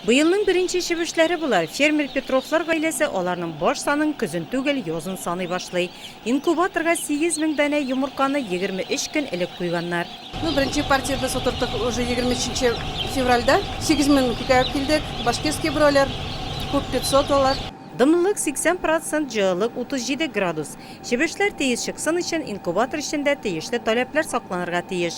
Быелның беренче чебешләре болар. Фермер Петровлар гаиләсе аларның баш санын көзен түгел, язын саный башлый. Инкубаторга 8 мең данә йомырканы 23 көн элек куйганнар. Ну, беренче партия без утырттык уже 23 февральдә. 8 мең күтәреп килдек. Башкирский бройлер, күп 500 алар. Дымлылык 80 процент, җылылык 37 градус. Чебешләр тиез чыксын өчен, инкубатор эчендә тиешле таләпләр сакланырга тиеш.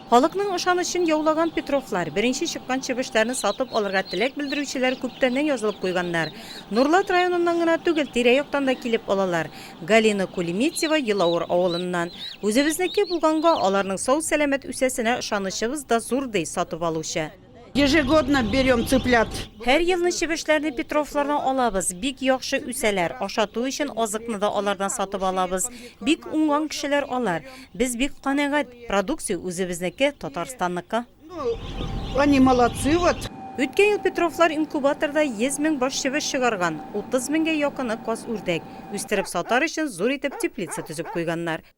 Халыкның ышанычын яулаган Петровлар, беренче чыккан чебешләрне сатып алырга теләк белдерүчеләр күптәннән язылып куйганнар. Нурлат районыннан гына түгел, тирә-яктан да килеп алалар. Галина Кулеметьева, Елавыр авылыннан. Үзебезнеке булганга, аларның сау-сәламәт үсәсенә ышанычыбыз да зур, ди сатып алучы. Ежегодно берем цыплят. Һәр елны чебешләрне Петровлардан алабыз, бик яхшы үсәләр, ашату өчен азыкны да алардан сатып алабыз. Бик уңган кешеләр алар. Без бик канәгать, продукция үзебезнеке, Татарстанныкы. Они молодцы вот. Үткән ел Петровлар инкубаторда 100 мең баш чебеш чыгарган, 30 меңгә якыны каз-үрдәк. Үстереп сатар өчен зур итеп теплица төзеп куйганнар.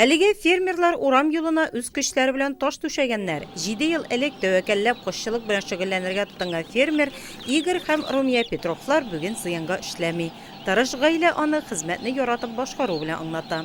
Әлеге фермерлар урам юлына үз көчләре белән таш түшәгәннәр. Җиде ел элек тәвәкәлләп кошчылык белән шөгыльләнергә тотынган фермер Игорь һәм Румия Петровлар бүген зыянга эшләми. Тырыш гаилә аны хезмәтне яратып башкару белән аңлата.